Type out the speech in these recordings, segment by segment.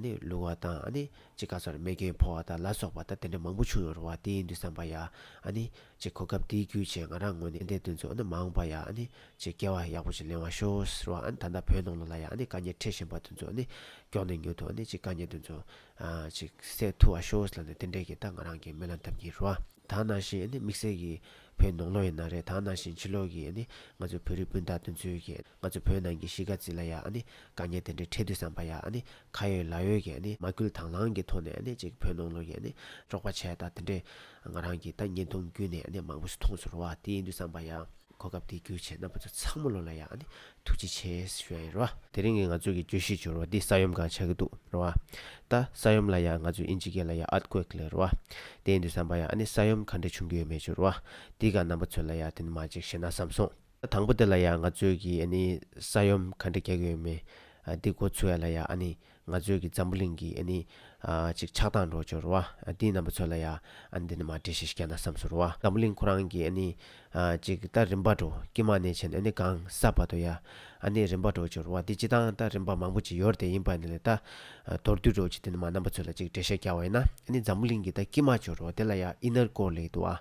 ནི་ལུང་བ་དང་ནི་ཅེས་བཀའ་སྩོལ་རྨེ་གན་ཕོ་བ་དང་ལ་སོགས་པ་ད་དེ་འདྲ་མང་པོ་བྱུང་ཡོང་རུང་བ་དེ་ཡིན་དུས་བསམ་པ་ཡ། ནི་ཅེས་གོ་སྐབས་དེའི་རྒྱུ་བྱས་ང་རང་ངོས་ནས་འདས་དོན་ཚོ་ནི་མ་འོངས་པ་ཡ། ནི་ཅེས་སྐལ་བ་ཡག་པོ་ཞིག་ལེན་བ་ཤོག་ཟེར་བ་ད་ལྟ་བོད་ནང་ལོ་ལ་ཡ། ནི་བཀའ་ཉན་འཕྲད་བཞིན་པ་དེ་ཚོ་ནི་སྐྱོག་ནས་ཉོ་ཐུ་ནི་ཅེས་བཀའ་ཉན་དེ་ཚོ། ཅེས་སེ་ཐུ་བ་ཤོག་ཟེར་ལ་ནི་དེ་འདྲས་ཀྱི་ད་ང་རང་གི་མི་ལ་འཐབ་གྱིན་རུ་བ། ད་ནང་བཞིན་ནི་དམིགས་བསལ་གྱིས་བོད་ནང་ལོ་ཡིན་ན་རེད་ད་ནང་བཞིན་ཕྱི་ལོག་གིས་ནི་ང་ཚོའི་བོད་རིགས་སྤུན་ཟླ་དེ་ཚོའི་གིས། ང་ཚོ་བོད་ནང་གི་གཞིས་ཀ་རྩེ་ལ་ཡང་ནི་དཀའ་ཉེན་དེ་འདྲའི་འཕྲད་དུས་བསམ་པ་ཡང་ནི་ཁ་ཡོད་ལག་ཡོད་ཀྱིས་ནི་མ་སྐུལ་དང་བླང་གི་ཐོག་ནས་ནི་ཅིག་བོད་ནང་ལོག་ཡས་ནི་དཀྲོག་པ་བྱས་ད་དེ་འདྲས་ང་རང་གིས་ད་བརྙན་ཐུང་བརྒྱུད་ནས་ནི་མང་པོ་ཞིག་མཐོང་ཚོར་བ་དེ་ཡིན་དུས་བསམ་པ་ཡང། གོ་སྐབས་དེ་རྒྱུ་བྱས་ན་བུ་ཚོ་ཚང་མ་ལོ་ལ་ཡང་ནི་ཐུགས་རྗེ་ཆེ་ཞུ་ཡ་ཡིན་རོ། དེ་རིང་གི་ང་ཚོ་གི་གྱོད་གཞི་བྱུ་རོ་འདི་ས་ཡོམ་གང་ཆག་གི་འདུག་རོ། ད་ས་ཡོམ་ལ་ཡང་ང་ཚོ་ཨིན་ཇི་ཀེ་ལ་ཡང Earthquake ལས་རོ། དེ་ཡིན་དུས་བསམ་པ་ཡང་ནི་ས་ཡོམ་གང་འདྲས་བྱུང་གི་ཡོད་མེད་ཅུ་རོ། འདི་ག་རྣམ་པ་ཚོས་ལ་ཡང་དེ་ནི་མ་འཇིགས་ཤེ་ན་བསམ་སོང། དང་པོ་དེ་ལ་ཡང་ང་ཚོས་ཀྱིས་ཨ་ནི་ས་ཡོམ་ག་འདྲ་རྒྱག་གི་ཡོད་མེད་འདི་གོ་ཚུལ་ལ་ཡང་ཨ་ནི་ང་ཚོས་ཀྱིས་འཛམ་བུ་གླིང་གི་ཨ་ནི་ཅིག་ཆགས་སྟངས་འགྲོ་འགྱུར་བ་འདི་རྣམ་པ་ཚོ་ལ་ཡང་ཨ་ནི་འདི་ནི་མ་འདྲེས་ཤིག་རྒྱ་ནག་བསམ་ཟུར་བ་འཛམ་བུ་གླིང་ཁོ་རང་གི་ཨ་ནི་ཅིག་ད་རིམ་པ་འགྲོ་ཀྱི་མ་ནས་ཕྱིན་ཨ་ནི་གང་ས་བ་དོ་ཡང་ཨ་ནི་རིམ་པ་འགྲོ་འགྱུར་བ་འདི་ཅི་སྟངས་ད་རིམ་པ་མང་པོ་ཅིག་ཡོར་དེ་ཡིན་པ་འདི་ལས་ད་མདོར་བསྡུས་འགྲོ་ཅིག་འདི་ནི་མ་རྣམ་པ་ཚོ་ལ་ཅིག་འགྲེལ་བཤད་རྒྱག་བ་ཡིན་ན་ཨ་ནི་འཛམ་བུ་གླིང་གི་ད་ཀྱི་མ་འགྱུར་བ་དེ་ལ་ཡང་ཨི་ནར་ཀོ་ལེ་དུ་ཨ་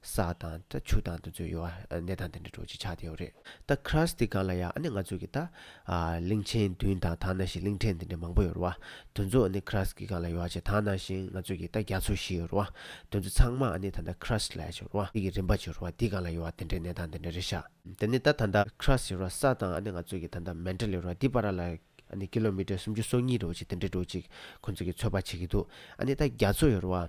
ས་དང་ཏྲ་ཆུ་དང་དུ་ཚོད་ཡོ་བ་གནས་དང་དེ་འདྲ་འགྲོ་ཅི་ཆགས་དེའོ་རེད། ད་ཁྲ་སི་ཏི་གང་ལ་ཡ་ཨ་ནི་ང་ཚོ་གི་ད། གླིང་ཆེན་བདུན་དང་དང་ན་ཞིང་གླིང་ཕྲན་དེ་འདྲ་མང་པོ་ཡོ་རོ་ཨ། དོན་ཚོ་ཨ་ནི་ཁྲ་སི་ཏི་གང་ལ་ཡོ་བ་ཆེ་དང་ན་ཞིང་ང་ཚོ་གི་ད་རྒྱ་མཚོ་བཞི་ཡོ་རོ་ཨ། དོན་ཚོ་ཚང་མ་ཨ་ནི་ད་ད་ཁྲ་སི་ལ་ཡ་ཆེ་རོ་ཨ་གི་རིམ་པ་ཆེ་རོ་ཨ་དེ་གང་ལ་ཡོ་བ་དེ་འདྲའི་གནས་དང་དེ་འདྲ་རེད་ཤག། དེ་ནི་ད་ད་ད་ཁྲ་སི་ཡོ་རོ་ཨ་ས་དང་ཨ་ནི་ང་ཚོ་གི་ད་ད་མན་ཏྲ་ལི་ཡོ་རོ་ཨ་དེ་པ་ར་ལ་ཨ་ནི་ཀི་ལོ་མི་ཏྲ་སུམ་ཅུ་སོ་གཉིས་རེད་བ་ཅིག་དེ་འདྲ་འགྲོ་ཅིག་ཁོ་ཚོ་གི་ཚོད་དཔག་བྱེད་གི་འདུག་ཨ་ནི་ད་རྒྱ་མཚོ་ཡོ་རོ་ཨ།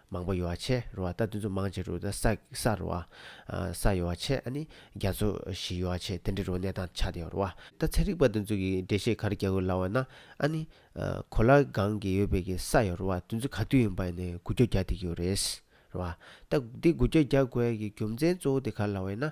མང་པོ་ཡོ་བ་ཆེ་རུ་བ་ད་དུ་ཚོ་མང་ཆེ་རུ་ད་ས་ས་རུ་བ། ས་ཡོ་བ་ཆེ་ཨ་ནི་རྒྱ་ཚོ་བཞི་ཡོ་བ་ཆེ་དེ་འདྲི་རུ་གནས་སྟངས་ཆགས་ཏེ་ཡོ་རུ་བ། ད་ཚན་རིག་པ་དེ་ཚོ་གི་འགྲེལ་བཤད་ག་རེ་རྒྱག་དགོས་ལབ་བ་ན་ཨ་ནི། གོ་ལ་གང་གི་ཡོད་པའི་གི་ས་ཡོ་རུ་བ་དེ་ཚོ་ག་དུས་ཡིན་པ་ཡིན་ནའི་གུ་གྱོ་རྒྱག་དེ་གི་ཡོ་རེད། རུ་བ། ད་དེ་གུ་གྱོ་རྒྱག་དགོས་ཀྱི་རྒྱུ་མཚན་གཙོ་བོ་དེ་ག་ལ་བ་ཡིན་ན།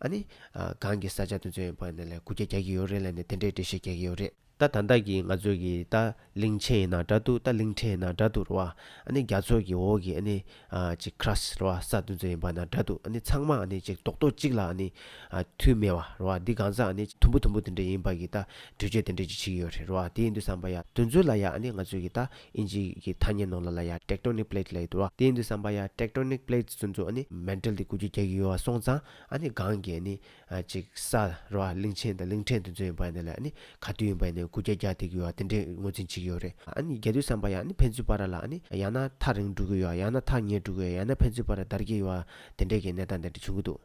ཨ་ནི། གང་གི་ས་ཆ་དེ་ཚོའི་བར་ནས་ལས་སྒོ་རྒྱ་རྒྱག་གི་ཡོད་རེད་ལ་ནི་དེ་འདྲའི་འགྲེལ་བཤད་རྒྱག་གི་ཡོད་རེད། ད་ད་ལྟ་གི་ང་ཚོ་གི་ད་གླིང་ཆེན་ཡིན་ན་དྲ་འདུག་ད་གླིང་ཕྲན་ཡིན་ན་དྲ་འདུག་རེད་བ། ཨ་ནི་རྒྱ་མཚོ་གི་འོག་གི་ཨ་ནི། གཅིག Crust རེད་བ་ས་དེ་ཚོ་ཡིན་པ་ན་དྲ་འདུག་ཨ་ནི་ཚང་མ་ཨ་ནི་གཅིག་རྡོག་རྡོག་གཅིག་ལ་ཨ་ནི། མཐུད་མེད་བ་རེད་བ་འདི་གང་ཟག་ཨ་ནི་དུམ་བུ་དུམ་བུ་དེ་འདྲ་ཡིན་པ་གི་ད་གྲོས་ཆོད་དེ་འདྲ་གཅིག་བྱེད་ཀྱི་ཡོད་རེད་བ་དེ་ཡིན་དུས་བསམ་པ་ཡ། དེ་ཚོ་ལ་ཡ་ཨ་ནི་ང་ཚོ་གི་ད། ཨིན་ཇི་ཡི་ཐ་སྙད་ནང་ལ་ལ་ཡ Tectonic Plate ལ་ཡོད་དོ། དེ་ཡིན་དུ་བསམ་པ་ཡ Tectonic Plates ཚོན་ཚོ་ནི Mantle དེ་གུ་གུ་རྒྱག་གི་ཡོད་བ་སོང་ཙང་ཨ་ནི་གང་གི་ཨ་ནི་ཅིག་ས་ར་བ་གླིང་ཆེན་དང་གླིང་ཕྲན་དེ་ཚོ་ཡིན་པ་ནི་ལ་ཨ་ནི་ག་དུས་ཡིན་པ་ཡིན་ནའི་གུ་རྒྱ་རྒྱག་ཐེག་གི་ཡོད་བ་དེ་འདྲའི་ངོས་འཛིན་བྱེད་ཀྱི་ཡོད་རེད་ཨ་ནི་རྒྱ་དུས་བསམ་པ་ཡ་ནི་ཕན་ཚུན་བར་ར་ལ་ཨ་ནི་ཡང་ན་ཐག་རིང་འགྲུག་གི་ཡོད་བ་ཡང་ན་ཐག་ཉེ་འགྲུག་གི་ཡོད་ཡང་ན་ཕན་ཚུན་བར་ར་འདར་གྱི་ཡོད་བ་དེ་འདྲའི་གི་གནས་སྟངས་དེ་འདྲ་བྱུང་གི་འདུག།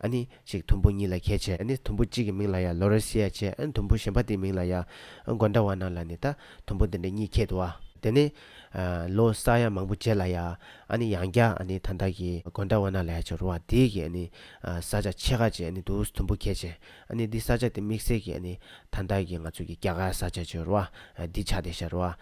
ཨ་ནི་གཅིག་དུམ་བུ་གཉིས་ལ་ཁྱད་བྱེད་ཨ་ནི་དུམ་བུ་གཅིག་གི་མིང་ལ་ཡང་ལོ་རེར་བྱེད་ཡ་བྱེད་ཨ་ནི་དུམ་བུ་གཞན་པ་དེའི་མིང་ལ་ཡང་མགོ་འདྲ་བ་རྣམས་ལ་ནི་ད་དུམ་བུ་འདི་འདྲ་གཉིས་ཁྱད་དུ་བ། དེ་ནི། ལོ་གསར་ཡང་མང་པོ་བྱེད་ལ་ཡ་ཨ་ནི་ཡང་བརྒྱ་ཨ་ནི་ད་འདའ་གི་མགོ་འདྲ་བ་རྣམས་ལ་ཡ་བྱེད་རོ་བ་དེའི་གི་ཨ་ནི་ས་ཆ་ཕྱེད་ཀ་བྱེད་ཨ་ནི་དུས་དུམ་བུ་ཁྱད་བྱེད་ཨ་ནི་འདི་ས་ཆ་དེ་དམིགས་བསལ་གྱི་ཨ་ནི་ད་འདའ་གི་ང་ཚོ་གི་རྒྱ་གར་ས་ཆ་བྱེད་རོ་བ་འདི་ཆ་དེ་བྱེད་རོ་བ།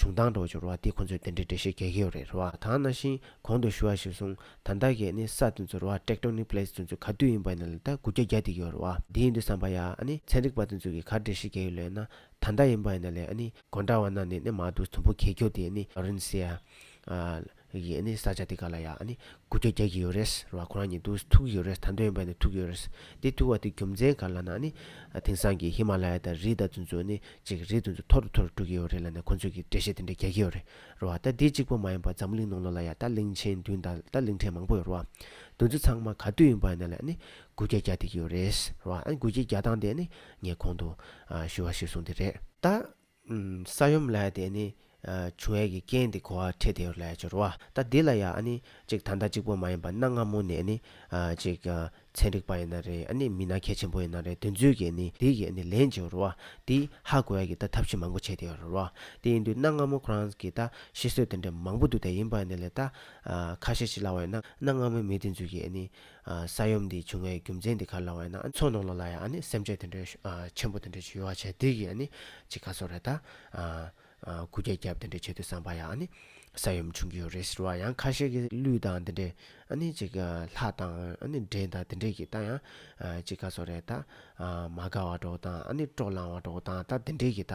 བྱུང་དང་འགྲོ་འགྱུར་བ་འདི་ཁོ་ཚོས་དེ་འདྲའི་འགྲེལ་བཤད་རྒྱག་གི་ཡོད་རེད་རེ་བ་དང་ན་ཞིང་གོང་དུ་ཞུ་བ་བཞིན་སོང་ད་ད་གས་ནི་ས་དེ་ཚོ་རེ་བ Tectonic Plates དེ་ཚོ་ག་དུས་ཡིན་པ་ནས་ལ་ད་དགུ་བརྒྱ་བརྒྱ་དེ་ཡོད་རེ་བ། དེ་ཡིན་དུས་བསམ་པ་ཡ་ཨ་ནི་ཚན་རིག་པ་དེ་ཚོས་གིས་ག་འགྲེལ་བཤད་རྒྱག་གི་ལོས་ན་ད་ད་ཡིན་པ་ནས་ལས་ཨ་ནི། དགོན་གྲྭ་བ་ན་ནས་ནི་མ་འདུག་དུམ་བུ་གས་འཁྱོག་དེ་ཨ་ནི Laurencia། ཡིན་ཨ་ནི་ས་ཆ་དེ་ག་ལ་ཡ་ཨ་ནི་དགུ་བརྒྱ་བརྒྱག་གི་ཡོད་རེད་ཟེར་བ་ཁོ་རང་ཉིད་དུ་ཐུག་གི་ཡོད་རེད་ད་འདོད་ཡོན་པ་ནི་ཐུག་གི་ཡོད་རེད་དེ་ཐུག་བ་དེ་རྒྱུ་མཚན་ག་ལ་ན་ཨ་ནི་དེང་སང་གི་ཧི་མ་ལ་ཡ་དང་རི་དང་ཚུན་ཚོད་ནི་ཅིག་རི་དུ་ཚོད་མཐོ་རུ་མཐོ་རུ་འགྲོ་གི་ཡོད་རེད་ལ་ནི་ཁོ་ཚོས་ཀྱི་འགྲེལ་བཤད་དེ་འདྲ་རྒྱག་གི་ཡོད་རེད་རོ་ཨ་ད་དེ་གཅིག་པོ་མ་ཡིན་པ་འཛམ་བུ་གླིང་ནང་ལོ་ལ་ཡ་ད་གླིང་ཆེན་བདུན་དང་ད་གླིང་ཕྲན་མང་པོ་ཡོད་རོ་ཨ་འདུ་ཚོད་ཚང་མ་ག་དུས་ཡིན་པ་ཡིན་ན་ལ་ཨ་ནི་དགུ་བརྒྱ་བརྒྱག་དེ་གི་ཡོད་རེད་ཟེར་རོ་ཨ་ནི་དགུ་བརྒྱ་བརྒྱག་སྟངས་དེ་ཨ་ནི་ངས་གོང་དུ་ཞུ་བ་ཞིག་གསུངས་དེ་རེད། ད་ས་ཡོམ་ལས་དེ་ནི་བྱུ་ཡས་ཀྱི་རྐྱེན་དེ་གོ་བ་ཁྲེ་དེ་ལས་སྦྱོར་བ་ད་འདི་ལ་ཡང་ནི་ཅིག་ད་ལྟ་གཅིག་པོ་མ་ཡིན་པར་གནའ་སྔ་མོ་ནས་ནི་ཅིག་ཚན་རིག་པ་ཡིན་ན་རེ་ནི་མི་སྣ་གལ་ཆེན་པོ་ཡིན་ན་རེ་དོན་ཚུལ་གྱི་ནི་འདི་ཡི་ནི་ལན་སྦྱོར་བ་འདི་ཧ་གོ་ཡས་ཀྱི་ད་ཐབས་ཤེས་མང་པོ་བྱས་དེ་རོ་བ་དེ་ཡིན་དུས་གནའ་སྔ་མོ་ཁོ་རང་གི་ད་ཤི་གསོས་དེ་འདྲ་མང་པོ་འདུག་དེ་ཡིན་པ་ནི་ལས་ད་ཁ་ཤས་ཤི་སླ་བ་ཡིན་ན་གནའ་སྔ་མོའི་མི་དེ་ཚུལ་གྱི་ནི་ས་ཡོམ་འདིས་བྱུང་བའི་རྒྱུ་མཚན་དེ་ག་ལ་བས་ན་མཚོ་ནང་ལོགས་ལ་ཡང་སེམས་ཁྲལ་དེ་འདྲའི་ཆེན་པོ་དེ་འདྲའི་ཞུ་བ་བྱས་དུས་ཀྱི་གཅིག་ག་སོགས་རེད་ད། སྐུ་རྒྱལ་རྒྱབ་དེ་འདྲའི་ཆེད་དུ་བསམ་པ་ཡང་ས་ཡོམ་བྱུང་གི་ཡོད་རེད་ཟེར་བ་ཡང་ཁ་ཤས་ཀྱི་ལུས་དང་དེ་འདྲའི་གཅིག་ལྷ་དང་འདྲེ་དང་དེ་འདྲའི་གི་ད་ཡང་གཅིག་ག་སོགས་རེད་ད། མ་དགའ་བ་གྲོགས་དང་སྤྲོ་བསླང་བ་གྲོགས་དང་ད་དེ་འདྲའི་གི་ད་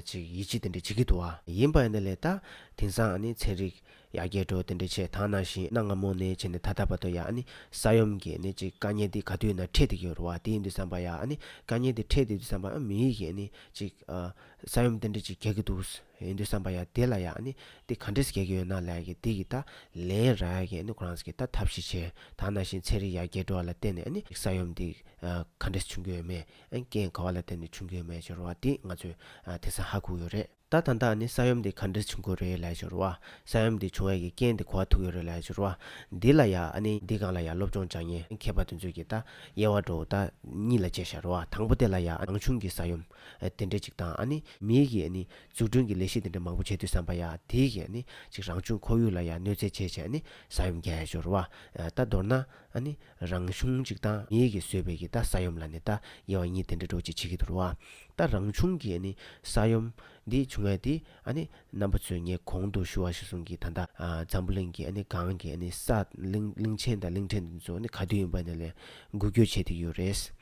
གཅིག་ཡིད་ཆེས་དེ་འདྲ་བྱེད་ཀྱི་འདུག་བ། ཡིན་པ་ཡིན་ན་ལེ་ད་དེང་སང་ཚན་རིག། ཡ་རྒྱལ་བྲོ་དེ་འདྲའི་ཆེ་ད་ནང་བཞིན་གནའ་སྔ་མོ་ནས་བྱས་ནས་ད་ལྟ་བར་དུ་ཡ་ཨ་ནི་ས་ཡོམ་གྱི་ནི་ཅིག་དཀའ་ཉེན་དེ་ག་དུས་ན་འཕྲད་དེ་གི་རུ་བ་དེ་ཡིན་དུས་བསམ་པ་ཡ་ཨ་ནི་དཀའ་ཉེན་དེ་འཕྲད་དུས་དུས་བསམ་པ་ཨ་མི་ཡིག་གི་ནི་ཅིག་ས་ཡོམ་དེ་འདྲའི་ཅིག་གྱ་གི་འདུག་ས་ཡིན་དུས་བསམ་པ་ཡ་དེ་ལ་ཡ་ཨ་ནི་དེ་ག་འདྲས་གྱ་གི་ཡོད་ན་ལས་གི་དེ་གི་ད་ལན་ར་ཡ་གི་ནི་ཁོ་རང་ས་གི་ད་ཐབས་ཤེས་བྱས་ད་ནང་བཞིན་ཚན་རིག་ཡ་རྒྱལ་བྲོ་བ་ལ་བརྟེན་ནས་ཨ་ནི་ས་ཡོམ་དེ་ག་འདྲས་བྱུང་གི་ཡོད་མེད་ཨན་རྐྱེན་ག་བ་ལ་བརྟེན་ནས་བྱུང་གི་ཡོད་མེད་ཅིག་རུ་བ་དེ་ང་ཚོས་དེ་སང་ཧ་གུག་ཡོད་རེད། ད་དང་དག་ནི་ས་ཡོམ་འདི་ག་འདྲིར་བྱུང་ཁུལ་རེད་ལས་བྱུར་བ། ས་ཡོམ་འདི་བྱུང་བའི་གི་རྐྱེན་འདི་གོ་བ་ཐུག་ཡོད་རེད་ལས་བྱུར་བ། འདི་ལ་ཡ་ཨ་ནི་འདི་གང་ལ་ཡ་སློབ་སྦྱོང་སྦྱང་ཉེན་མཁས་པ་དེ་ཚོས་གི་ད་དབྱེ་བ་འགྲོ་ད་གཉིས་ལ་དཔྱད་བྱར་བ་དང་པོ་དེ་ལ་ཡ་ཨ་ནང་བྱུང་གི་ས་ཡོམ་དེ་འདྲའི་ཅིག་དང་ཨ་ནི་མིའི་གི་ཨ་ནི་འཛུགས་སྐྲུན་གི་ལས་གཞི་དེ་འདྲ་མང་པོ་བྱས་དུས་བསམ་པ་ཡ་དེའི་གི་ཨ་ནི་ཅིག་རང་བྱུང་ཁོར་ཡུག་ལ་ཡ་གནོད་འཚེ་བྱས་བྱས་ཨ་ནི་ས་ཡོམ་རྒྱལ་བྱུར་བ། ད་མདོར་ན་ཨ་ནི། རང་བྱུང་གཅིག་དང་ཉིད་ཀྱིས་བཟོས་པའི་གི་ད་ས་ཡོམ་ལ་ནི་ད་ཡེ་བ་ཉིད་དེ་འདྲ་འགྲོ་ཅི་བྱེད་ཀྱི་དུ་རུ་བ། ད་རང་བྱུང་གི་ནི་ས་ཡོམ་འདི་བྱུང་བས་དེ་ནི་རྣམ་པ་ཚོས་ངས་གོང་དུ་ཞུ་བ་ཞིག་གསུངས་གི་ད་ད་འཛམ་བུ་གླིང་གི་ནི་གང་གི་ནི་ས་གླིང་གླིང་ཆེན་དང་གླིང་ཕྲན་འདི་ཚོ་ནི་ག་དུས་ཡིན་པ་ནི་ལས་འགུལ་སྐྱོད་བྱེད་དེ་ཡོད་རེད།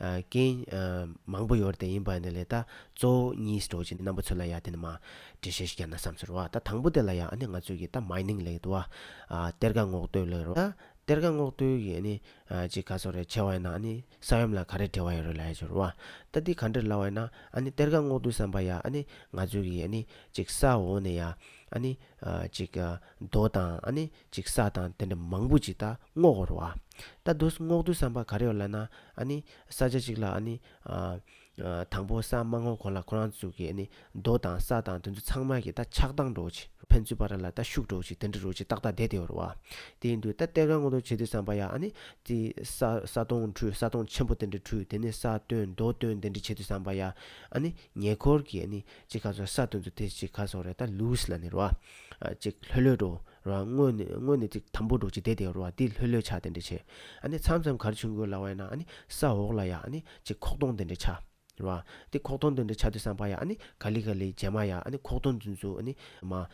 རྐྱེན། མང་པོ་ཡོད་དེ་ཡིན་པ་ནི་ལས་ད་གཙོ་བོ་གཉིས་སུ་འགྲོ་གཅིག་ནི་རྣམ་པ་ཚོད་ལ་ཡ་དེ་ནི་མ། འདྲི་བྱེད་ཞིག་ཡ་ན་བསམ་ཚོད་རོ་ད་དང་པོ་དེ་ལ་ཡ་ནི་ང་ཚོས་ཀྱི་ད Mining ལས་དུ་བ། གཏེར་ཁ་སྔོག་འདོད་ལས་རོ་ད་གཏེར་ཁ་སྔོག་འདོད་ཀྱི་ནི་ཅིག་ག་ཚོད་རེ་ཆེ་བ་ཡ་ན་ནི་ས་ཡོམ་ལ་ག་རེ་བྲེལ་བ་ཡོད་རེ་ལ་ཡ་ཆོད་རོ་ད་འདི་ག་འདྲེར་ལ་བ་ཡ་ན་ཨ་ནི་གཏེར་ཁ་སྔོག་འདོད་བསམ་པ་ཡ་ནི་ང་ཚོས་ཀྱི་ནི་ཅིག་ས་འོག་ནས་ཡ་ཨ་ནི་ཅིག་རྡོ་དང་ཨ་ནི། ཅིག་ས་དང་དེ་འདྲ་མང་པོ་ཅིག་ད་སྔོག་བར་བ། ད་བསྡུ་སྔོག་བསྡུ་བསམ་པ་ག་རེ་བ་ལ་ན་ཨ་ནི། ས་ཆ་ཅིག་ལ་ཨ་ནི། དང་པོ་ས་མ་སྔོག་གོང་ལ་ཁོ་རང་ཚུགས་ཀྱི་ཨ་ནི། རྡོ་དང་ས་དང་དེ་ཚོ་ཚང་མ་གི་ད་ཆགས་སྡང་འགྲོ་ཅིག་ཕན་ཚུན་བར་ལ་ད་ཤུགས་འགྲོ་ཅིག་དེ་འདྲ་རོ་ཅིག་ཏག་ཏག་བསྡད་དེ་བར་བ། དེ་ཡིན་དུས་ད་གཏེར་ཁ་སྔོག་བསྡུ་བྱེད་དུས་བསམ་པ་ཡ་ཨ་ནི། ཏི། ས་ས་སྟོང་འཁྲུས་ས་སྟོང་ཆེན་པོ་དེ་འདྲ་འཁྲུས་དེ་ནི་ས་བཏོན་རྡོ་བཏོན་དེ་འདྲ་བྱེད་དུས་བསམ་པ་ཡ་ཨ་ནི། ཉེ་འཁོར་གྱི་ཨ་ནི། ཅིག་ཁ་སོ་ས་བཏོན་དུས་དེ་ཅིག་ཁ་སོ་རེ་ད་ལུས་ལ་ནི་ར་བ། ཅིག་ལྷོད་ལྷོད་འགྲོ། རོ། སྔོན་ནས་སྔོན་ནས་ཅིག་དམ་པོར་འགྲོ་ཅིག་དེ་དེ་རོ། དེ་ལྷོད་ལྷོད་ཆགས་དེ་འདྲ་བྱེད། ཨ་ནི་མཚམས་མཚམས་གར་ཆུང་གོས་ལ་བས་ན་ཨ་ནི་ས་འོག་ལ་ཡ་ཨ་ནི་ཅིག་ཁོག་སྟོང་དེ་འདྲ་ཆགས། རོ། དེ་ཁོག་སྟོང་དེ་འདྲ་ཆགས་དུས་སམ་བ་ཡ་ཨ་ནི་ག་ལི་ག་ལི་བྱེད་མ་ཡ་ཨ་ནི་ཁོག་སྟོང་རྫུན་རྫུན་ཨ་ནི་མ།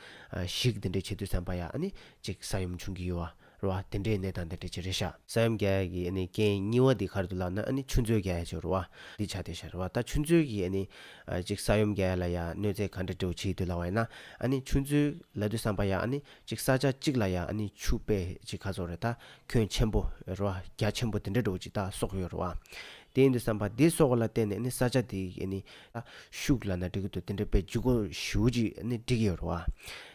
ཤིག་དེ་འདྲ་བྱེད་དུས་སམ་བ་ཡ་ཨ་ནི་ཅིག་ས་ཡུམ་ཆུང་གི་ཡུ་བ། རོ། དེ་འདྲའི་གནས་དང་དེ་འདྲའི་བྱེད་རེ་བྱ། ས་ཡོམ་རྒྱ་ཡལ་གྱི་རྐྱེན་སྙི་བ་འདི་གར་དུ་ལགས་ན་ཆུ་མཛོད་རྒྱ་ཡལ་བྱེད་རོ། འདི་བྱ་དེ་བྱ་རོ། ད་ཆུ་མཛོད་ཀྱིས་གཅིག་ས་ཡོམ་རྒྱ་ཡལ་ལ་ཡ་གནོད་འཚེ་ག་འདྲ་འདྲེ་བོ་བྱེད་འདོད་ལ་བ་ཡིན་ན། ཆུ་མཛོད་ལ་དུས་བསམ་པ་ཡ་གཅིག་ས་ཆ་གཅིག་ལ་ཡ་ཆུ་དཔེ་གཅིག་ཁ་ཚོར་རེ་ད་ཁྱོད་ཆེན་པོ་རོ། རྒྱ་ཆེན་པོ་དེ་འདྲ་འདྲེ་བོ་གཅིག་ད་སོག་ཡོད་རོ། དེ་ཡིན་དུས་བསམ་པ་འདི་སོག་ལ་བརྟེན་ནས་ས་ཆ་འདི་ད་ཤུགས་ལ་ན་འདྲེ་གུ་དོ་དེ་འདྲ་དཔེ་བཅུ་གོ་བཞི་བོ་གཅིག་འགྲིག་ཡོད་རོ།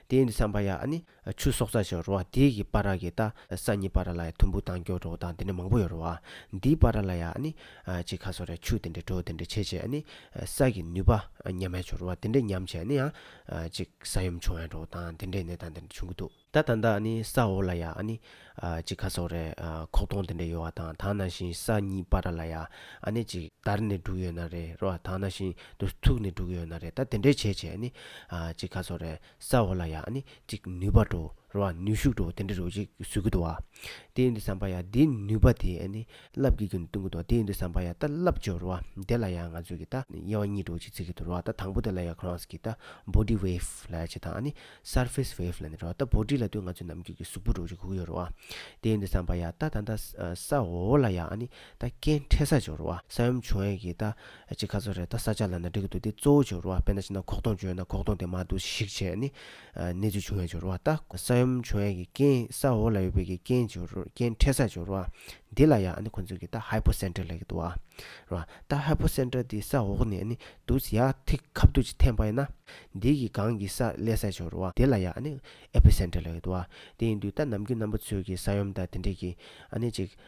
དེ་ཡིན་དུས་བསམ་པ་ཡ། ཆུ་སོགས་རྩ་ཆེན་རུ་བ་དེའི་གི་པ་ར་གི་རྟ་ས་གཉིས་པ་ར་ལ་ཡ་དུམ་བུ་དང་སྐྱོ་གྲོགས་དང་དེ་འདྲ་མང་པོ་ཡོད་རུ་བ་འདིའི་པ་ར་ལ་ཡ་ནི། གཅིག་ཁ་སོ་རའི་ཆུ་དེ་འདྲའི་གྲོ་དེ་འདྲའི་ཆེ་ཆེ་ནི། ས་གི་ནུས་པ་ཉམས་ཡ་ཆུ་རུ་བ་དེ་འདྲའི་ཉམས་ཆེ་ནི་ཡང། གཅིག་ས་ཡོམ་བྱུང་ཡ་གྲོགས་དང་དེ་འདྲའི་ནད་དང་དེ་འདྲ་བྱུང་གི་འདུག། ད་ད་ལྟ་ནི་ས་འོག་ལ་ཡ་ནི། གཅིག་ཁ་སོ་རའི་ཁོག་སྟོང་དེ་འདྲ་ཡོད་བ་དང་དང་ན་བཞིན་ས་གཉིས་པ་ར་ལ་ཡ་ནི་གཅིག་དར་ནི་འབྲུག་ཡོད་ན་རེད་རུ་བ་དང་ན་བཞིན་དུ་ཐུག་ནི་འབྲུག་ཡོད་ན་རེད་ད་དེ་འདྲའི་ཆེ་ཆེ་ནི། གཅིག་ཁ་སོ་རའི་ས་འོག་ལ་ཡང་ནི་ཅིག་ནུས་པ་འགྲོ་རུ་བ་ནུས་ཤུགས་འགྲོ་བ་དེ་འདྲ་རུ་བ་ཅིག་བཟོས་ཀྱི་འདུག་བ། དེ་ཡིན་དུ་བསམ་པ་ཡང་དེའི་ནུས་པ་དེ་ནི་རླབས་ཀྱིས་ཀྱང་བསྟུན་གྱི་འདུག་དེ་ཡིན་དུ་བསམ་པ་ཡང་ད་རླབས་འཇོག་རུ་བ་དེ་ལ་ཡང་ང་ཚོས་ཀྱི་ད་དབྱེ་བ་གཉིས་འགྲོ་བ་ཅིག་བརྩི་གི་འདུག་རུ་བ་ད་དང་པོ་དེ་ལ་ཡང་ཁོ་རང་གི་ད body wave ལ་ཡང་ཅིག་དང་ནི surface wave ལ་ནི་རུ་བ་ད body ལ་ལྟོས་ང་ཚོའི་ནམ་རྒྱུན་གྱི་གཟུགས་པོ་འགྲོ་བ་ཅིག་གུག་ཡོད་རུ་བ། དེ་ཡིན་དུ་བསམ་པ་ཡང་ད་ད་ད་ས་འོག་ལ་ཡང་ནི་ད་རྐྱེན་འཕྲད་ས་འཇོག་རུ་བ་ས་ཡོམ་བྱུང་ཡས་ཀྱི་ད་ཅིག་ཁ་ཚོན་རེ་ད་ས་ཆ་ལ་ན་འགྲིག་གི་འདུག་དེ་གཙོ་བོ་བྱོ་རུ་བ་དཔེ་ན་ཕྱི་ན་ཁོག་སྟོང་བྱོས་ན་ཁོག་སྟོང་དེ་མ་འདུག་གཞིག་བྱས་ནི་གནས་ཚུལ་བྱུང་ཡ་བྱོ་རུ་བ་ད་ས་ཡོམ་བྱུང་ཡ་གི་རྐྱེན་ས་འོག་ལ་ཡོད་པའི་གི་རྐྱེན་བྱོ་རུ་རྐྱེན་འཕྲད་ས་བྱོ་རུ་བ་འདི་ལ་ཡ་ནི་ཁོ་ཚོས་གི་ད་ཧའི་པོ་སན་ཏྲེ་ལ་གི་འདུག་བ་རུ་བ་ད་ཧའི་པོ་སན་ཏྲེ་དེ་ས་འོག་ནས་ནི་འདུག་ས་ཡ་ཐིག་ཁབ་དུག་ཅིག་འཐེན་པ་ཡིན་ན་འདི་གི་གང་གི་ས་ལས་ས་བྱོ་རུ་བ་དེ་ལ་ཡ་ནི་ཨེ་པི་སན་ཏྲེ་ལ་གི་འདུག་བ་དེ་ཡིན་དུས་ད་ནམ་རྒྱུན་རྣམ་པ་ཚོས་གི་ས་ཡོམ་ད་དེ་འདྲས་གི་ཨ་ནི་ཅིག་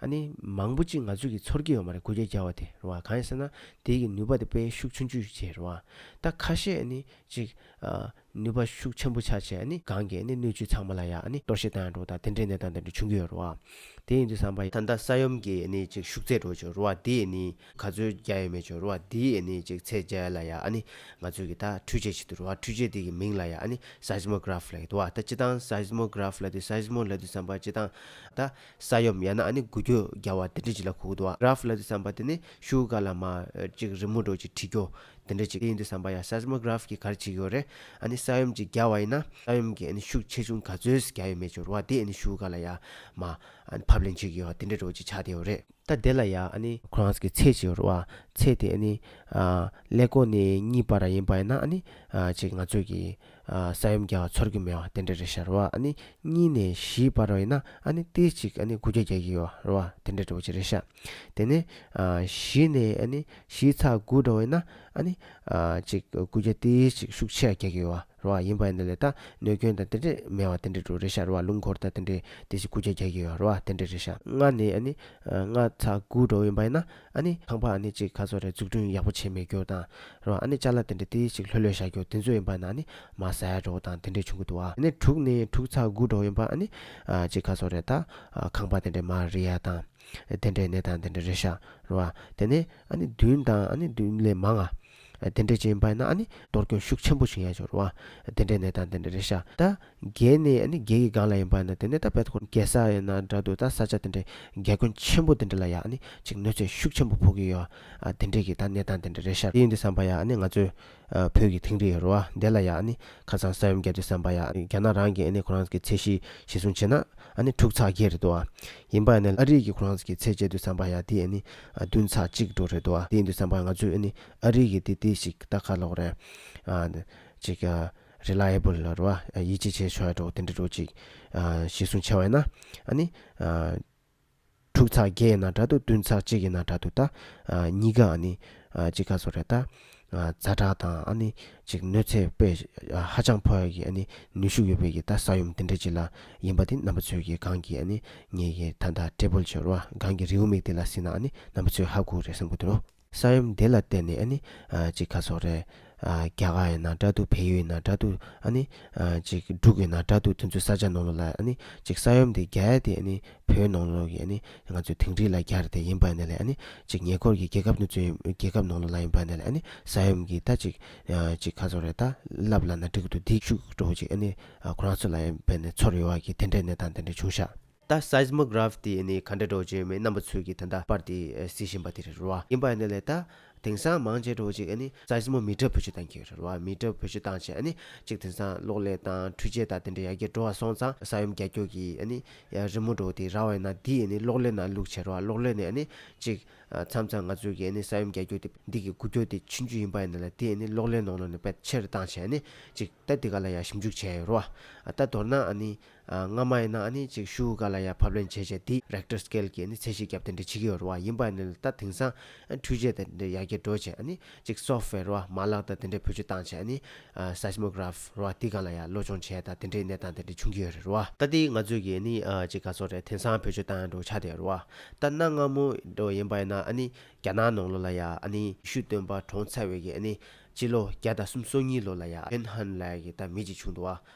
ཨ་ནི། མང་པོ་ཅིག་ང་ཚོས་ཀྱི་ཚོར་སྐྱེ་ཡོད་མ་རེད་གོ་རྒྱ་རྒྱ་བ་དེ་རེད་བ་གང་ཡིན་ཟེར་ན། དེའི་ཀྱི་ནུས་པ་དེ་དཔེ་ཤུགས་ཆུང་ཆུད་ཆེ་རེད་བ། ད་ཁ་ཤས་ཨ་ནི། ཅིག། ནུས་པ་ཤུགས་ཆེན་པོ་ཆག་ཆེ་ཨ་ནི་གང་གི་ཨ་ནི་སྣོད་བཅུད་ཚང་མ་ལ་ཡ་ཨ་ནི་གཏོར་བཤིག་བཏང་ཡང་འགྲོ་དང་དེ་འདྲའི་གནས་སྟངས་དེ་འདྲ་བྱུང་གི་ཡོད་རེད་བ། དེ་ཡིན་དུས་བསམ་པ། ད་ལྟ་ས་ཡོམ་གྱི་ཨ་ནི་ཅིག་ཤུགས་ཚད་འགྲོ་ཆོག་རེད་བ་དེ་ཨ་ནི། ག་ཚོད་རྒྱ་ཡོད་མེད་ཆོག་རེད་བ་དེའི་ཨ་ནི་ཅིག་ཚད་རྒྱ་ཡོད་ལ་ཡ་ཨ་ནི། ང་ཚོས་ཀྱི་ད་འཕྲུལ་ཆས་བྱེད་དུས་རེད་བ་འཕྲུལ་ཆས་དེ་ཀྱི་མིང་ལ་ཡ་ཨ་ནི། Seismograph ལ་ཡོད་དུ་བ་ད་སྤྱི་སྟངས Seismograph ལ་དུས Seismo ལ་དུས་བསམ་པ་སྤྱི་སྟངས། ད། ས་ཡོམ་ཡང་ན་ཨ་ནི་འགུལ་སྐྱོད་རྒྱ་བ་དེ་འདྲ་ཅིག་ལ་གུག་འདུག་ཨ། ར་ཧྥི་ལ་འདི་བསམ་པ་དེ་ནི་ཤུ་ག་ལ་མ། ཅིག་རི་མོ་སྒྲོག་ཅིག་བྲིས་སྐྱོ། དེ་འདྲ་ཅིག་ཡིན་འདུག་བསམ་པ་ཡང Seismograph གིས་གར་བྱེད་ཀྱི་ཡོད་རེད། ཨ་ནི་ས་ཡོམ་ཅིག་རྒྱ་བ་ཡིན་ན། ས་ཡོམ་གྱི་ཨ་ནི་ཤུགས་ཆེ་ཆུང་ག་ཚོད་རྒྱ་ཡོད་མེད་ཅིག་རོ་བ་དེ་ཨ་ནི་ཤུ་ག་ལ་ཡང་མ། ཨ་ནི་ཕབ་ལེན་བྱེད་ཀྱི་ཡོད་དེ་འདྲ་སྒྲོག་ཅིག་ཆགས་བསྡད་ཡོད་རེད། ད་དེ་ལ་ཡང་ཨ་ནི། Crans གི་ཚད་ཅིག་རོ་བ། ཚད་དེ་ཨ་ནི། ཀླད་གོང་ནས་གཉིས་པ་ར་ཡིན་པ་ཡིན་ན་ཨ་ནི། ཅིག་ང་ཚོས་ཀྱི། ས་ཡོམ་བརྒྱ་བ་ཚོར་གྱི་མེད་བ་དེ་འདྲ་རེད་ཤར་བ་ཨ་ནི་གཉིས་ནས་བཞིའི་བར་བ་ཡིན་ན་ཨ་ནི་ཏེ་གཅིག་ཨ་ནི་དགུ་བརྒྱ་བརྒྱ་གྱི་བར་བ་དེ་འདྲ་འདྲ་བོ་ཅི་རེད་ཤ་དེ་ནས་བཞི་ནས་ཨ་ནི་བཞིའི་ཚགས་དགུ་འདྲ་བ་ཡིན་ན་ཨ་ནི་གཅིག་དགུ་བརྒྱ་ཏེ་གཅིག་ཤུག་ཆེ་བརྒྱ་གྱི་བར་བ་ཡིན་པ་ཡིན་ན་ལས་ད་གནོད་སྐྱོན་དང་དེ་འདྲས་མེད་བ་དེ་འདྲ་འདྲ་རེད་ཤར་བ་རླུང་འཁོར་དང་དེ་འདྲས་ཏེ་གཅིག་དགུ་བརྒྱ་བརྒྱ་གྱི་བར་བ་དེ་འདྲ་རེད་ཤ་ལྔ་ནས་ཨ་ནི་ལྔ་ཚགས་དགུ་འདྲ་བོ་ཡིན་པ་ཡིན་ན། ཨ་ནི་ཁང་པ་ཨ་ནི་གཅིག་ག་ཚོད་རེད་འཛུགས་སྐྲུན་ཡག་པོ་བྱེད་མི་རྒྱུ་དང། རོ་ཨ་ནི་ཅཱ་ལ་དེ་འདྲ་ཏི་ཞིག་ལྷོད་ལྷོད་བཞག་རྒྱུ་དེ་ཚོ་ཡིན་པ་ན་ནི་མ་ཟད་རོ་དང་དེ་འདྲས་བྱུང་གི་འདུག་ཨ། ནི་དྲུག་ནི་དྲུག་ཚ་དགུ་གྲོགས་ཡིན་པ་ཨ་ནི། གཅིག་ག་ཚོད་རེད་ད། ཁང་པ་དེ་འདྲས་མ་རེད་ཡ་དང། དེ་འདྲས་ནི་དང་དེ་འདྲས་རེད་ཤག་རོ་ཨ། དེ་ནི་ཨ་ནི་བདུན་དང་ཨ་ནི་བདུན་ལས་མང་ཨ། དེ་འདྲའི་རྗེས་འབའ་ན་ནི་གཏོར་སྐྱོན་ཤུགས་ཆེན་པོ་ཞིག་ཡང་འབྱོར་བ། དེ་འདྲའི་ནད་དང་དེ་འདྲའི་རེ་ཤ་ད། རྒྱལ་ནི་རྒྱལ་གྱི་སྒང་ལ་ཡིན་པ་ན་དེ་ནས་ད་བལ་ཁོ་རྒྱལ་ས་ཡིན་ན་འདྲ་འདུག་ད་ས་ཆ་དེ་འདྲའི་རྒྱལ་དགོན་ཆེན་པོ་དེ་འདྲ་ལ་ཡང་ནི་ཅིག་གནོད་འཚེ་ཤུགས་ཆེན་པོ་ཕོག་གི་ཡོད། དེ་འདྲའི་གི་ད་ནད་དང་དེ་འདྲའི་རེ་ཤ་ཡིན་འདི་བསམ་པ་ཡང་ནི་ང་ཚོའི། བོད་ཀྱི་དིང་རི་རུ་བ་འདི་ལ་ཡང་ནི་ཁ་སང་ས་ཡོམ་བརྒྱབ་འདི་བསམ་པ་ཡང་རྒྱ་ནག་རང་གིས་ནི་ཁོ་རང་གི་ཚད་གཞི་གཞི་བཟུང་བྱས་ན་ནི་འཁྲུག་ཚགས་རྒྱས་རེད་འདུག་ཡིན་པ་ནི་ཨ་རིག་གི་ཁོ་རང་ཚོ་གི་ཚད་བཅད་དུ་བསམ་པ་ཡང་དེ་ནི་བདུན་ཚ་གཅིག་འགྲོ་རེད་འདུག་བ་དེ་འདུ་བསམ་པ་ང་ཚོས་ནི་ཨ་རིག་གི་དེ་དེ་ཞིག་ལྟ་ཁ་ལོག་རེད། ཅིག། Reliable། རེད་བ། ཡིད་ཆེས་བྱེད་ཆོག་ཡ་འགྲོ་དེ་འདྲ་འགྲོ་ཅིག། གཞི་སྲུང་ཆེ་བ་ཡིན་ན། ཨ་ནི། དྲུག་ཚ་བརྒྱད་ཡིན་ན་འདྲ་འདུག་བདུན་ཚ་གཅིག་ཡིན་ན་འདྲ་འདུག་ད། གཉིས་ཀ་ཨ་ནི། གཅིག་ཁ་སོ་རེད་ད། རྫ་བྲག་དང་ཨ་ནི་ཅིག་གནོད་འཚེ་པས་ཧ་ཅང་ཕོ་ཡ་གི་ཨ་ནི་ནུས་ཤུགས་ཡོད་པའི་གི་ད་ས་ཡོམ་དེ་འདྲ་ཅིག་ལ་ཡིན་པ་དེ་རྣམ་པ་ཚོས་གི་གང་གི་ཨ་ནི་ངེད་གི་ད་ད་ཏྲེ་པོལ་ཆོལ་བ་གང་གི་རེའུ་མིག་དེ་ལ་སྲིད་ན་ཨ་ནི་རྣམ་པ་ཚོས་ཧ་གུ་རེ་བསམ་གུ་དེ་རུ། ས་ཡོམ་དེ་ལ་བརྟེན་ནི་ཨ་ནི་ཅིག་ཁ་སོག་རེ། རྒྱ་གར་ཡིན་ན་དྲ་ཐུག་བལ་ཡུལ་ཡིན་ན་དྲ་ཐུག་ཨ་ནི་ཅིག་འབྲུག་ཡིན་ན་དྲ་ཐུག་དེ་ཚོའི་ས་ཆ་ནང་ལོ་ལ་ཨ་ནི་ཅིག་ས་ཡོམ་དེ་རྒྱ་ཡ་དེ་ཨ་ནི་བོད་ནང་ལོགས་ཀྱི་ནི་ང་ཚོའི་དིང་རི་ལ་རྒྱར་དེ་ཡིན་པ་ནི་ལས་ནི་གཅིག་ཉེ་འཁོར་གྱི་རྒྱལ་ཁབ་ནི་ཚོའི་རྒྱལ་ཁབ་ནང་ལོགས་ལ་ཡིན་པ་ནི་ལས་ནི་ས་ཡོམ་གྱི་ད་ཅིག་ཅིག་ཁ་ཚོར་རེད་ད་ལབ་ལ་ན་འགྲིག་འདུག་འདི་བཅུག་འགྲོ་ཅིག་ཨ་ནི་ཁོ་རང་ཚོ་ལ་ཡིན་པ་ནི་ཚོར་ཡོད་བ་གི་དེ་འདྲའི་གནས་སྟངས་དེ་འདྲའི་བྱུང་ཤག། ད Seismograph དེ་ནི་ག་འདྲ་འགྲོ་ཅིག་མི་རྣམ་པ་ཚོས་གི་ད་ད་པར་དེ་གཟིགས་བཞིན་པ་དེ་རེད་རོ་ཨ་ཡིན་པ་ནི་ལས་ད། དེང་སང་མང་ཆེ་བྲོ་གཅིག་ནི་རྩྭ་ཞིམ་མོ་མི་ཏྲ་བུ་ཆུ་དང་ཁྱེར་བ་མི་ཏྲ་བུ་ཆུ་དང་བཅས་ནི་གཅིག་དེང་སང་གློག་ཀླད་དང་འཕྲུལ་ཆས་དང་དེ་འདྲ་ཡར་རྒྱས་འགྲོ་བ་སོང་ཙང་ས་ཡོམ་རྒྱ་སྐྱོད་ཀྱི་ནི་རི་མོ་བྲོ་དེ་ར་བས་ན་འདི་ཡི་ནི་གློག་ཀླད་ནང་བླུགས་ཁྱེར་བ་གློག་ཀླད་ནི་ནི་གཅིག། མཚམས་མཚམས་ང་ཚོས་ཀྱི་ནི་ས་ཡོམ་རྒྱ་སྐྱོད་དེ་འདི་གི་འགུལ་སྐྱོད་དེ་ཕྱིན་རྒྱུ་ཡིན་པ་ཡིན་ན་ལ་དེ་ནི་གློག་ཀླད་ནང་ལ་ནི་པད་ཕྱིར་བཏང་བྱས་ནི་གཅིག་ད་འདི་ག་ལ་ཡང་ཞིབ་འཇུག་བྱས་ཡོད་རོ། ད་མདོར་ན་ནི། སྔ་མ་ཡིན་ན་ཨ་ནི་ཅིག་ཤོས་ག་ལ་ཡ་ཕབ་ལེན་བྱས་བྱས་དེ Richter Scale གྱི་ཚད་གཞི་བརྒྱབ་སྟེ་འདྲི་བྱེད་ཀྱི་རུ་བ་ཡིན་པ་ནི་ལ་ད་དེང་སང་འཕྲུལ་ཆས་དང་འདྲེ་ཡ་གྱི་འགྲོ་བྱེད་ཨ་ནི་ཅིག Software རུ་བ་མ་ལག་དང་དེ་འདྲེ་བོད་སྤྱི་བཏང་བྱས་ཨ་ནི Seismograph རུ་བ་དེ་ག་ལ་ཡ་བློ་སྦྱོང་བྱས་ད་དེ་འདྲེ་གནས་སྟངས་དེ་འདྲེ་བྱུང་གྱི་ཡོད་རེད་རུ་བ། ད་དེ་ང་ཚོས་ཀྱི་ཨ་ནི་ཅིག་ག་ཚོ་རེད་དེང་སང་བོད་སྤྱི་བཏང་ཡ་འགྲོ་ཆགས་དེ་རུ་བ། ད་གནའ་སྔ་མོ་རུ་ཡིན་པ་ཡིན་ན་ཨ་ནི་རྒྱ་ནག་ནང་ལོ་ལ་ཡ་ཨ་ནི་ཤུ་སྟོན་པ་གྲོང་ཚ་བས་ཀྱི་ཨ་ནི་ཅི་ལོ་བརྒྱ་དང་གསུམ་སོ་གཉིས་ལོ་ལ་ཡ Pen Hon ལ་ཡ་གྱི་ད་མི་ཅིག་བྱུང་འདུག་བ།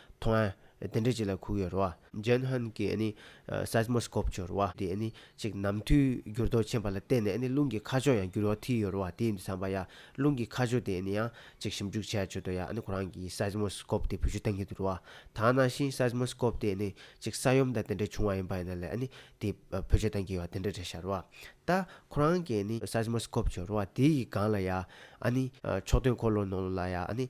མཐོང་ཡ། དེ་འདྲ་ཅིག་ལ་ཁུག་ཡོད་རེད་བ། ཇན་ཧན་གྱི Seismoscope ཆུ་རེད་བ། དེ་ཅིག་ནམ་དུས་འགྱུར་ལྡོག་ཆེན་པ་ལ་བརྟེན་ནས་རླུང་གི་ཁ་ཕྱོགས་ཡང་འགྱུར་བ་ཐིལ་ཡོད་རེད་བ། དེ་ཡིན་དུ་བསམ་པ་ཡ། རླུང་གི་ཁ་ཕྱོགས་དེ་ཡང་ཅིག་ཞིབ་འཇུག་བྱས་ཆོད་དོ་ཡ། ཁོ་རང་གིས Seismoscope དེ་བུད་ཤུལ་བཏང་གི་འདུག་རེད་བ། ད་ནང་བཞིན Seismoscope དེ་ཅིག་ས་ཡོམ་དང་དེ་འདྲ་བྱུང་བ་ཡིན་པ་ཡིན་ན་ལས་དེ་བུད་ཤུལ་བཏང་གི་ཡོད་བ་དེ་འདྲ་རེད་ཤག་རེད་བ། ད་ཁོ་རང་གིས Seismoscope ཆུ་རེད་བ། དེ་ཡི་སྒང་ལ་ཡ། ཕྱོགས་སྟོན་འཁོར་ལོ་ནང་ལ་ཡ།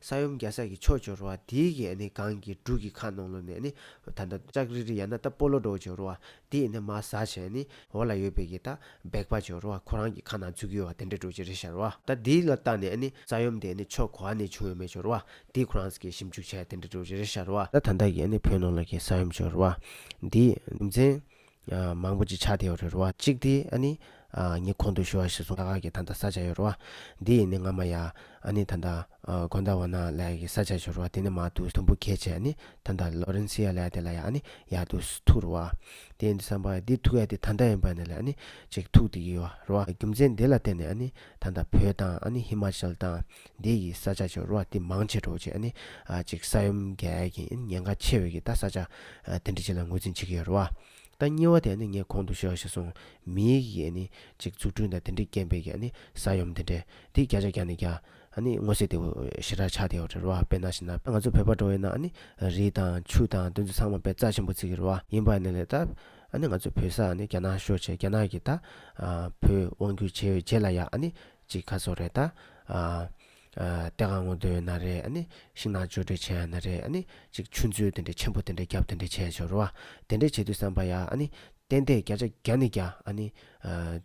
ས་ཡོམ་རྒྱ་སྲ་གི་ཕྱོགས་བྱོར་བ་དེའི་གི་ནི་གང་གི་འབྲུག་གི་ཁ་ནང་ལོ་ནས་ནི་ད་ལྟ་ལྕགས་རི་རི་ཡ་ན་ད་སྤོ་ལོ་འགྲོ་བྱོར་བ་དེའི་ནི་མ་ཟ་བྱས་ནི་འོ་ལ་ཡོད་པའི་གི་ད་སྦེག་པ་བྱོར་བ་ཁོ་རང་གི་ཁ་ན་ཚུགས་གི་བ་དེ་འདྲ་འགྲོ་ཅི་རི་ཤར་བ། ད་དེའི་ལ་ལྟ་ནས་ནི་ས་ཡོམ་དེ་ནི་ཕྱོགས་གོ་བ་ནས་བྱུང་ཡོད་མེད་བྱོར་བ་དེའི་ཁོ་རང་གི་ཞིབ་འཇུག་བྱས་དེ་འདྲ་འགྲོ་ཅི་རི་ཤར་བ། ད་ད་ལྟ་གི་ནི་བོད་ནང་ལ་གི་ས་ཡོམ་བྱོར་བ་དེའི་རྒྱུ་མཚན། མང་པོ་ཅིག་ཆགས་དེའོ་རེད་བ། གཅིག་དེ་ཨ་ནི། ངའི་གོང་དུ་ཞུ་བ་ཞིག་སོང་ད་ག་གི་ད་ད་ས་ཆ་ཡོད་རེད་བ། འདི་ཡིན་ནི་ང་མ་ཡ། ཨ་ནི་ད་ད། གོང་ད་བ་ན་ལ་ཡ་གི་ས་ཆ་ཞུ་རེད་བ་དེ་ནི་མ་ཏུ་དུམ་བུ་གས་ཆེ་ཨ་ནི་ད་ད་ལོ་རིན་སི་ཡ་ལ་ཡ་དེ་ལ་ཡ་ཨ་ནི་ཡ་ཏུ་ཐུག་རེད་བ། དེ་ཡིན་དུ་བསམ་པ་ཡ་འདི་ཐུག་ཡ་དེ་ད་ད་ཡིན་པ་ནི་ལ་ཨ་ནི་ཅིག་ཐུག་དེ་གི་ཡོ་རེད་བ་རྒྱུ་མཚན་དེ་ལ་བརྟེན་ནས་ཨ་ནི་ད་ད་བོད་དང་ཨ་ནི་ཧི་མ་ཅལ་དང། འདི་ཡིས་ས་ཆ་ཆེ་རུ་བ་ཏི་མང་ཆེ་དྲོ་བྱེད་ནི་གཅིག་ས་ཡོམ་འགལ་གྱི་ཉེན་ཁ་ཆེ་བས་ཀྱི་ད་ས་ཆ་དེ་འདྲི་བྱེད་ལ་ངོས་འཛིན་བྱེད་ཀྱི་ཡོད་རུ་བ། ད་གཉིས་བ་དེ་ནི་ངས་གོང་དུ་ཤོད་ཤེས་སོང་མིའི་ཡིས་ནི་གཅིག་འཛུགས་སྐྲུན་དང་དེ་འདྲི་རྐྱེན་པས་ཀྱི་ནི་ས་ཡོམ་དེ་འདྲའི་དེ་བརྒྱ་ཆ་བརྒྱ་ནི་བརྒྱ་ནི་ངོ་ཤེས་དེའུ་ཞེ་དྲག་ཆགས་དེ་ཡོད་རེད་རུ་བ་དཔེར་ན་ཞེ་ན་ང་ཚོ་བོད་པ་འགྲོ་བས་ན་ནི་རི་དང་ཆུ་དང་དེ་ཚོ་ཚང་མ་བས་རྩ་ཆེན་པོ་བརྩིགས་ཀྱི་རུ་བ་ཡིན་པ་ནི་ལས་ད་ནི་ང་ཚོ་བོད་ས་ནི་རྒྱ་ནག་ཤོད་བྱེད་རྒྱ་ནག་གི་ད་བོད་དབང་སྒྱུར་བྱེད་བྱེད་ལ་ཡག་ནི་ཅིག་ཁ་སོགས་རེད་ད། ལྟས་ཁ་ངོ་འདོད་ཡོད་ན་རེད་ཨ་ནི། ཤིང་ནགས་བཅོས་སྒྲིག་བྱས་ཡོད་ན་རེད་ཨ་ནི། ཅིག་ཆུ་མཛོད་དེ་འདྲས་ཆེན་པོ་དེ་འདྲས་བརྒྱབ་དེ་འདྲས་བྱས་ཤོར་བ། དེ་འདྲས་བྱེད་དུས་བསམ་པ་ཡ་ཨ་ནི། བསྟན་དེས་བརྒྱ་ཆ་བརྒྱ་ནི་བརྒྱ་ཨ་ནི།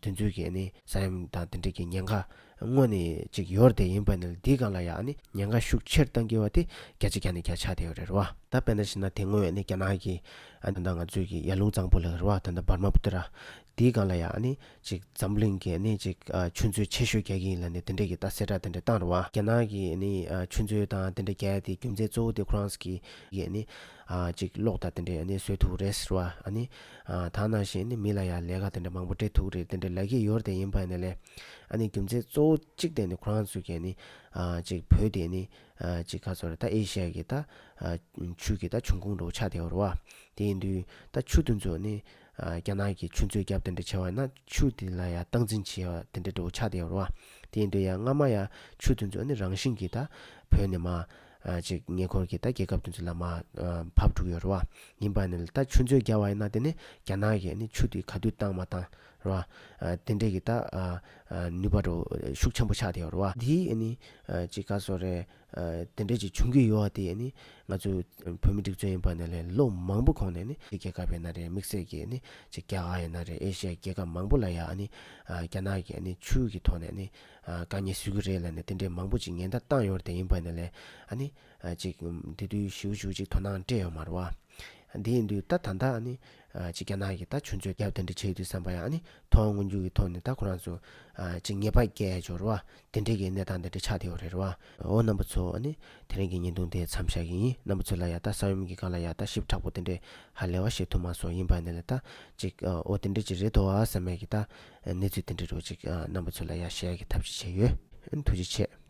དུས་ཚོད་ཀྱིས་ཨ་ནི། ས་ཡོམ་དང་དེ་འདྲས་ཀྱི་ཉེན་ཁ། དངོས་ནི་ཅིག་ཡོར་དེ་ཡིན་པ་ནི་འདིའི་སྒང་ལ་ཡ་ཨ་ནི། ཉེན་ཁ་ཤུགས་ཆེར་གཏང་གི་བ་དེ་བརྒྱ་ཆ་བརྒྱ་ནི་བརྒྱ་ཆགས་དེ་ཡོད་རེད་བ། ད་དཔེ་ན་བྱིན་ན་དེ་སྔོན་ཨ་ནི་རྒྱ་ནག་གི། ད་འདའ་ང་ཚོས་ཀྱི་ཡར་ལུང་གཙང་པོ་ལགས་རེད་བ་ད་འདའ་འབར་མ་པུ་ཏི་ར། དེའི་སྒང་ལ་ཡང་ནི་ཅིག་འཛམ་གླིང་གི་ནི་ཅིག་ཆུ་མཛོད་ཆེ་ཤོས་རྒྱག་གི་ཡིན་ལ་ནི་དེ་འདྲས་ཀྱི་ད་གསལ་བསྒྲགས་དེ་འདྲས་བཏང་རུང་བ་རྒྱ་ནག་གི་ནི་ཆུ་མཛོད་དང་དེ་འདྲས་རྒྱལ་དེ་རྒྱུ་མཚན་གཙོ་བོ་དེ་ཁོ་རང་གི་ཡིན་ནི་ཅིག་གློག་དང་དེ་འདྲས་ནི་བཟོས་ཐུག་རེད་ཟེར་བ་ཨ་ནི་ད་ནང་བཞིན་ནི་མི་ལ་ཡང་ལས་ཀ་དེ་འདྲས་མང་པོ་སྤྲད་ཐུག་རེད་དེ་འདྲས་ལ་གི་ཡོར་དེ་ཡིན་པ་ནི་ལས་ཨ་ནི་རྒྱུ་མཚན་གཙོ་བོ་ཅིག་དེ་ནི་ཁོ་རང་ཚོས་ཀྱི་ནི་ཅིག་བོད་དེ་ནི་ཅིག་ག་ཚོར་ད་ཨེ་ཤི་ཡ་གི་ད་ཆུ་གི་ད་འབྱུང་ཁུངས་འགྲོ་བ་ཆགས་དེ་འོ་རུ་བ་དེ་ཡིན་དུས་ད་ཆུ་དེ་ཚོ་ནི་རྒྱ་ནག་གི་ཆུ་མཛོད་རྒྱབ་དེ་འདྲ་བྱེ་བ་ཡིན་ན་ཆུ་དེ་ལ་ཡང་སྟངས་འཛིན་བྱེ་བ་དེ་འདྲ་འདྲ་བོ་ཆགས་བསྡད་ཡོང་རོགས་ཨ། དེ་ཡིན་དུས་ཡང་སྔ་མ་ཡང་ཆུ་དེ་ཚོ་ནི་རང་བཞིན་གྱིས་ད་བོད་ནས་མ། ཅིག་ཉེ་འཁོར་གྱི་ད་རྒྱལ་ཁབ་དེ་ཚོ་ལ་མ། བབས་འགྲོ་གི་ཡོད་རོགས་ཨ། ཡིན་པ་ནི་ད་ཆུ་མཛོད་རྒྱ་བ་ཡིན་ན་དེ་ནི་རྒྱ་ནག་གིས་ནི་ཆུ་དེ་ག་དུས་བཏང་མ་བཏང་རོགས་ཨ། དེ་འདྲ་གྱི་ད། ནུས་པ་འགྲོ་ཤུགས་ཆེན་པོ་ཆགས་བསྡད་ཡོང་རོགས་ཨ། དེའི་ཨ་ནི། ཅིག་ག་སོ་རེད། དེ་འབྲེལ་གྱི་བྱུང་གི་ཡོ་བ་དེ་ཡིས་ནི་ང་ཚོ་བོད་མི་སྒྲིག་བརྩོད་ཡིན་པ་ནི་ལས་ལོ་མང་པོ་གོང་ནས་ནི་ཕྱི་རྒྱལ་ཁབ་ཡིན་ན་རེད་དམིགས་བསལ་གྱིས་ནི་ཕྱི་རྒྱལ་ཁག་ཡིན་ན་རེད་ཨེ་ཤི་ཡའི་རྒྱལ་ཁབ་མང་པོ་ལ་ཡང་ནི་རྒྱ་ནག་གིས་ནི་ཆུ་གི་ཐོག་ནས་ནི་དཀའ་ཉེས་བཟོས་ཀྱི་རེད་ལ་ནི་དེ་འདྲའི་མང་པོ་ཅིག་ཉེན་བརྡ་བཏང་ཡོད་དེ་ཡིན་པ་ནི་ལས་ཨ་ནི་ཅིག་དེ་དུས་ཞིའུ་ཞུ་ཅིག་དོ་སྣང་སྤྲད་ཡོད་མ་རུ་བ། དེ་ཡིན་དུས་ད་ད་ལྟ་ཨ་ནི་ཅིག་རྒྱ་ནག་གིས་ད་ཆུ་མཛོད་རྒྱབ་དེ་འདྲ་བྱས་དུས་བསམ་པ་ཡང་ཨ་ནི་ཐོག་སྔོན་འཇུག་གི་ཐོག་ནས་ད་ཁོ་རང་ཚོ་ཅིག་ཉེས་པ་བཀལ་ཡོད་རུ་བ། དེ་འབྲེལ་གྱི་གནས་སྟངས་དེ་འདྲ་ཆགས་བསྡད་ཡོད་རེད་བ། འོ་རྣམ་པ་ཚོ། དེ་རིང་གི་བརྙན་ཐུང་དེ་མཚམས་བཞག་གི་ཡིན་རྣམ་པ་ཚོས་ལ་ཡག་ད་ས་ཡོམ་གྱི་སྒང་ལ་ཡག་ད་ཞིབ་ཕྲག་པོ་དེ་འདྲའི་ཧ་ལས་བ་བཤད་ཐུབ་མ་སོང་ཡིན་པ་ནས་ལ་ད་ཅིག་འོ་དེ་འདྲའི་ཅིག་རེད་དོ་ཨ་ས་མས་ཀྱི་ད་གནས་ཚུལ་དེ་འདྲའི་རོ་ཅིག་རྣམ་པ་ཚོས་ལ་ཡག་ཤེས་ཡག་གི་ཐབས་ཅིག་བྱས་ཡོད། ཐུགས་རྗེ་ཆེ།